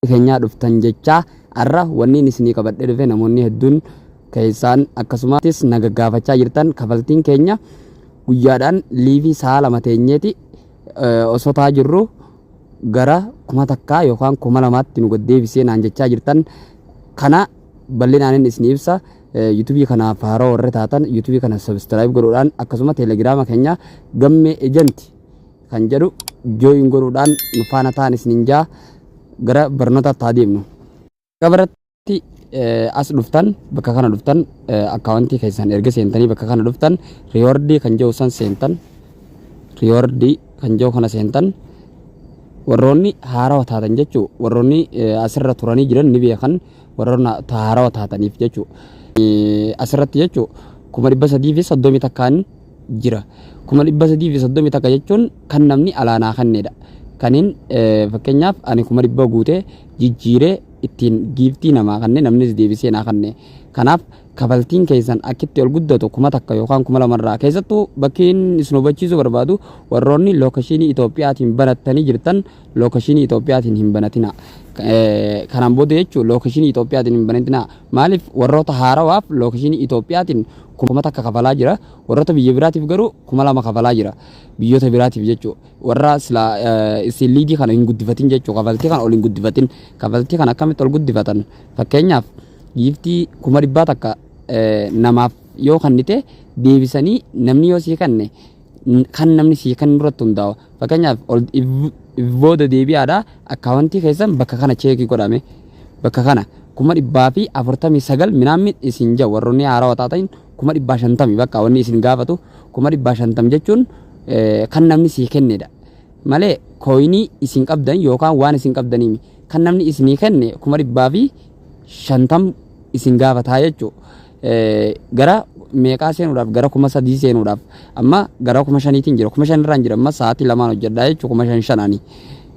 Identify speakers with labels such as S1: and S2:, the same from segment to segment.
S1: keenyaa dhuftan jechaa har'a wanniin isinii qabadhee dhufe namoonni hedduun keessaan akkasumattis naga gaafachaa jirtan kafaltiin keenya guyyaadhaan liivii sa'a lama teenyeeti osoo taa jirru gara kuma takkaa yookaan kuma lamaatti nu gaddeebisee naan jechaa jirtan kana bal'inaanin isinii ibsa. Yutubii kanaaf haaroo warri taatan yutubii kana sabskiraayib godhuudhaan akkasuma teelegiraama keenya gammee ejanti kan jedhu jooyin godhuudhaan nu faana ta'an isinin jaa gara barnootaatti haa deemnu. Gabaratti as dhuftan bakka kana dhuftan akkaawwantii keessan erga seentanii bakka kana dhuftan riiwardii kan jedhu san seentan riiwardii kan jedhu kana seentan warroonni haarawa taatan jechuu warroonni asirra turanii jiran ni beekan warroona tahaarawa taataniif jechuu asirratti jechuu kuma dhibba sadii fi soddomii takkaan jira kuma dhibba sadii fi soddomii takka jechuun kan namni alaanaa kanneedha kaniin fakkeenyaaf ani kuma dhibba guutee jijjiiree ittiin giiftii namaa kanne namnis deebisee naa kanne kanaaf kafaltiin keessan akkitti ol guddatu kuma takka yookaan kuma lamarraa keessattuu bakkiin isin hubachiisuu barbaadu warroonni lookashinii Itoophiyaatiin banattanii jirtan Lookeshinii Itoophiyaatiin hin banatinaa. Kanaan booda jechuun lookeshinii Itoophiyaatiin hin banatinaa. Maaliif warroota haarawaaf lookeshinii Itoophiyaatiin kuma takka kafalaa jira. Warroota biyya biraatiif garuu kuma lama kafalaa jira. Biyyoota biraatiif jechuu warra sila isin liidii kana hin guddifatin jechuu kafaltii kana ol hin guddifatin. Kafaltii kana akkamitti ol guddifatan? Fakkeenyaaf giiftii kuma dhibbaa takka namaaf yoo kannite deebisanii namni yoo sii kanne kan namni sii kan irratti hundaa'a. Fakkeenyaaf ol if if booda deebi'aadha akkaawwantii keessan bakka kana cheekii godhame bakka kana kuma dhibbaa fi afurtamii sagal minaammin isin jedhu warroonni haarawaa taatan kuma dhibbaa shantami bakka wanni isin gaafatu kuma dhibbaa shantam jechuun eh, kan namni sii kennedha. Malee kooyinii isin qabdan yookaan waan isin qabdaniimi kan namni isinii kenne kuma dhibbaa fi shantam isin gaafataa jechuudha. gara meeqaa seenuudhaaf gara kuma sadii seenuudhaaf amma gara kuma shaniitiin jira kuma shan irraan jira amma sa'aatii lamaan hojjedhaa jechuun kuma shan shanaani.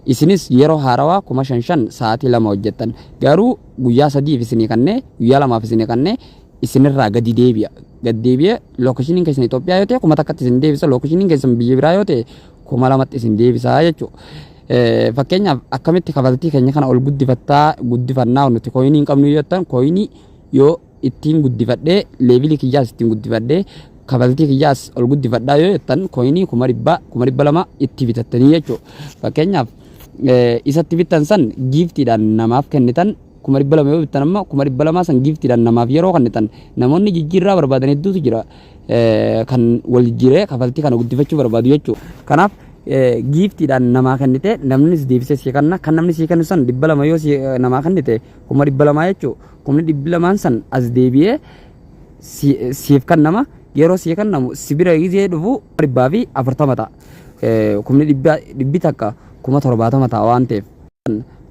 S1: Isinis yeroo haarawaa kuma shan shan sa'aatii lama hojjettan garuu guyyaa sadiif isinii kannee guyyaa lamaaf isinii kannee isinirraa gadi deebi'a. Gad deebi'ee lookeshiniin keessan Itoophiyaa yoo ta'e kuma takkatti isin deebisa lookeshiniin keessan biyya biraa yoo ta'e kuma lamatti isin deebisa jechuudha. Fakkeenyaaf akkamitti kafaltii keenya kana ol guddifattaa guddifannaa nuti kooyinii hin qabnu yoo ta'an kooyinii yoo ittiin guddifadhee leevilii kiyyaas ittiin guddifadhee kafaltii kiyyaas ol guddifadhaa yoo jettan koyinii kuma dhibbaa kuma dhibba lama itti bitattanii jechuudha. Fakkeenyaaf eh, isatti bittan san giiftiidhaan namaaf kennitan kuma dhibba lama yoo bittan amma kuma dhibba lamaa san giiftiidhaan namaaf yeroo kennitan namoonni jijjiirraa barbaadan hedduutu jira eh, kan wal jijjiiree kafaltii kana guddifachuu barbaadu jechuudha. Kanaaf eh, giiftiidhaan namaa kennite namnis deebisee sii kenna kan namni sii kennu san dhibba lama yoo sii- eh, namaa kennite kuma dhibba lamaa jechuudha. Kumni dhibbi lamaan san as deebi'ee si- siif kannama yeroo sii kannamu si bira gizee dhufu dhibbaa fi afurtama ta'a. Eh, Kumni dhibba- dhibbi takka kuma torbaatama ta'a waan ta'eef.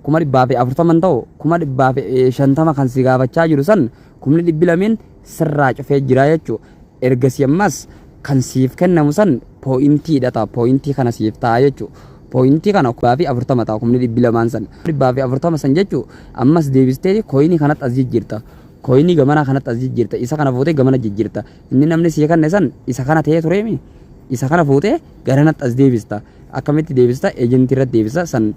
S1: Kuma dhibbaa fi afurtama hin ta'u kuma dhibbaa fi eh, shantama kan si gaafachaa jiru san kumni dhibbi lameen sirraa cufee jira jechuu ergasii ammas kan siif kennamu san pooyintii dha ta'a pooyintii kana siif ta'a jechuu pooyintii kana kubbaa fi afurtama ta'a kumni dhibbi lamaan san dhibbaa fi afurtama san jechuu ammas deebistee kooyinii kanatti as jijjiirta kooyinii gamanaa kanatti as jijjiirta isa kana fuutee gamana jijjiirta inni namni sii kenne san isa kana ta'ee tureemi isa kana fuutee garanatti as deebista akkamitti deebista ejentii irratti deebisa san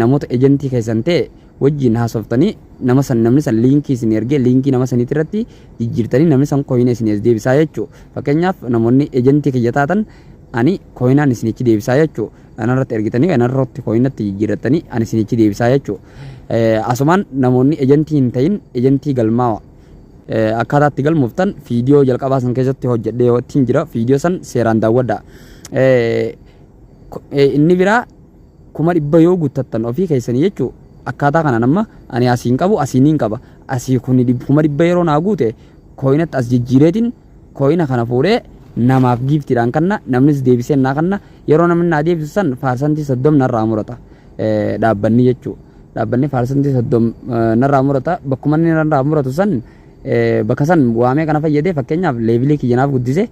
S1: namoota ejentii keessan ta'e wajjin haasoftanii nama san namni san liinkii isin ergee liinkii nama saniitii irratti jijjiirtanii namni san kooyina isin as deebisaa jechuu fakkeenyaaf namoonni ejentii kiyya taatan ani kooyinaan isinichi deebisaa jechuu anarratti ergitanii anarratti kooyinatti jijjiirrattanii ani isinichi deebisaa jechuu asumaan namoonni ejentii hin ta'in ejentii galmaawa akkaataa itti galmooftan fiidiyoo jalqabaa san keessatti hojjedhee yoo ittiin jira fiidiyoo san seeraan daawwadha inni biraa kuma dhibba yoo guttattan ofii keessanii jechuu akkaataa kanaan amma ani asiin qabu asii niin qaba asii kuni dhib- kuma dhibba yeroo naa guute kooyinatti as jijjiireetiin kooyina kana fuudhee namaaf giiftiidhaan kanna namnis deebisee naa kanna yeroo namni naa deebisu san faarsantii soddom narraa murata eh, dhaabbanni jechuu dhaabbanni faarsantii soddom eh, narraa murata bakkuma inni narraa muratu san bakka san waamee kana fayyadee fakkeenyaaf leevilii kiyya naaf guddise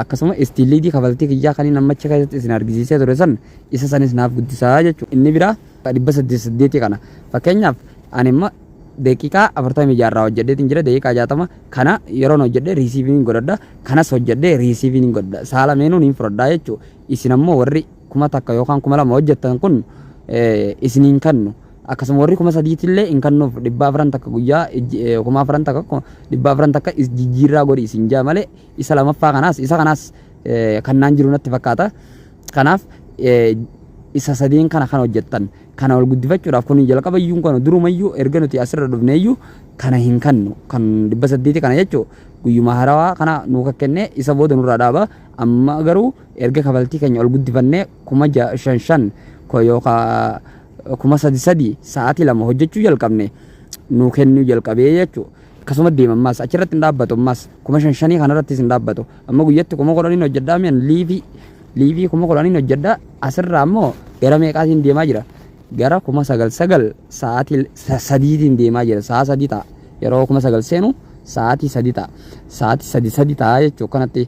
S1: akkasuma istiin liidii kafaltii kiyyaa kan inni ammacha keessatti isin argisiisee ture san isa sanis naaf guddisaa jechuudha inni biraa dhibba saddeet saddeetii kana fakkeenyaaf ani immoo daqiiqaa afurtamii jaarraa hojjedheetiin jira daqiiqaa jaatama kana yeroon hojjedhe riisiiviin godhadha kanas hojjedhe riisiiviin godhadha saala meenuun hin fudhadhaa jechuudha isin ammoo warri kuma takka yookaan kuma lama hojjettan kun isin hin kannu. Akkasuma warri kuma sadiitillee hin kannuuf dhibba afran takka guyyaa kuma afran takka dhibba afran takka jijjiirraa godhi isin jaa malee isa lamaffaa kanaas isa kanaas kannaan jiru natti fakkaata. Kanaaf isa sadeen kana kan hojjettan kana ol guddifachuudhaaf kun jalqaba iyyuu kana durumayyuu erga nuti asirra dhufne iyyuu kana hin kannu kan dhibba saddeeti kana jechuun guyyuma harawaa kana nuu kakkennee isa booda nurraa dhaaba amma garuu Erga kafaltii keenya ol guddifannee kuma ja shan shan ko yookaa kuma sadi sadi sa'aatii lama hojjechuu jalqabne nuu kennuu jalqabee jechu akkasuma deema ammaas achirratti hin dhaabbatu ammaas kuma shan shanii kanarrattis hin dhaabbatu amma guyyatti kuma kudhaniin hojjedhaa mi'an liivii liivii kuma kudhaniin hojjedhaa asirraa ammoo gara meeqaatiin deemaa jira gara kuma sagal sagal sa'aatii sa- sadiitiin deemaa jira sa'a sadii ta'a yeroo kuma sagal seenu sa'aatii sadii ta'a sa'aatii sadii sadii ta'a jechuu kanatti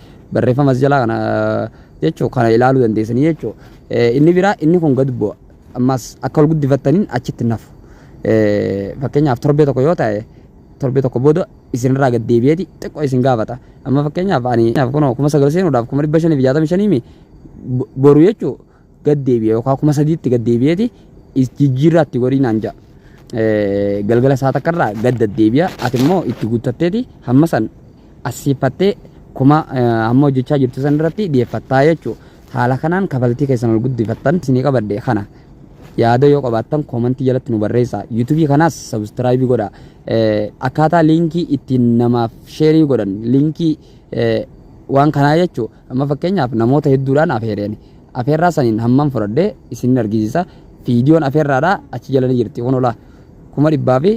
S1: barreeffama as jalaa kana jechuu kana ilaaluu dandeessanii jechuu inni biraa inni kun gad bu'a ammas akka wal guddifattaniin achitti nafu fakkeenyaaf torbee tokko yoo ta'e torbee tokko booda isinirraa gad deebi'eeti xiqqoo isin gaafata amma fakkeenyaaf ani kunoo kuma sagal seenuudhaaf kuma dhibba shanii fi jaatamii shanii mi boru jechuu gad deebi'e yookaan kuma sadiitti gad deebi'eeti is- jijjiirraa itti godhii naan ja'a. Eh, Galgala isaa takka irraa gad deddeebi'a ati immoo itti guuttatteeti hamma san assiifattee kuma eh, amma hojjechaa jirtu san irratti dhiyeeffattaa jechuudha. Haala kanaan kafaltii keessan ol guddifattan isinii qabadde kana. Yaada yoo qabaattan koomantii jalatti nu barreessaa. Yuutuubii kanaas sabiskiraayibii godhaa. Eh, Akkaataa liinkii ittiin namaaf sheerii godhan liinkii eh, waan kanaa jechuudha. Amma fakkeenyaaf namoota hedduudhaan afeere ani. Afeerraa saniin hamman fudhadhe isinin argisiisa. Viidiyoon afeerraadha achi jala ni jirti kun olaa kuma dhibbaa fi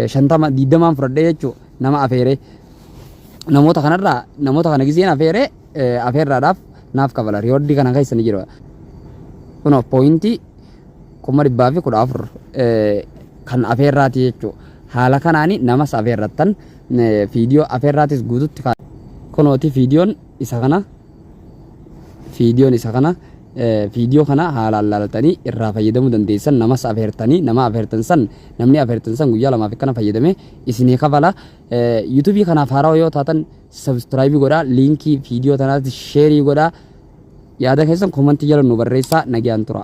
S1: shantama digdamaan fudhadhe jechuu nama afeere. Namoota kanarraa namoota kana giseen afeere afeerraadhaaf naaf kafala riyoordii kana keessa ni jira. Kunoo pooyintii kuma dhibbaa fi kudha afur kan afeerraati jechuu. Haala kanaan namas afeerrattan Fiidiyoo afeerraatis guututti kaa. Kunooti fiidiyoon isa kana. Fiidiyoon isa kana. Fiidiyoo kana haalaan laaltanii irraa fayyadamuu dandeessan namas afeertanii nama afeertan san namni afeertan san guyyaa lamaaf akkana fayyadame isinii kafala. Yuutuubii kanaaf haarawaa yoo taatan sabstiraayibii godhaa liinkii fiidiyoo tanaatti sheerii godhaa yaada keessan koomantii jala nu barreessaa nagaan tura.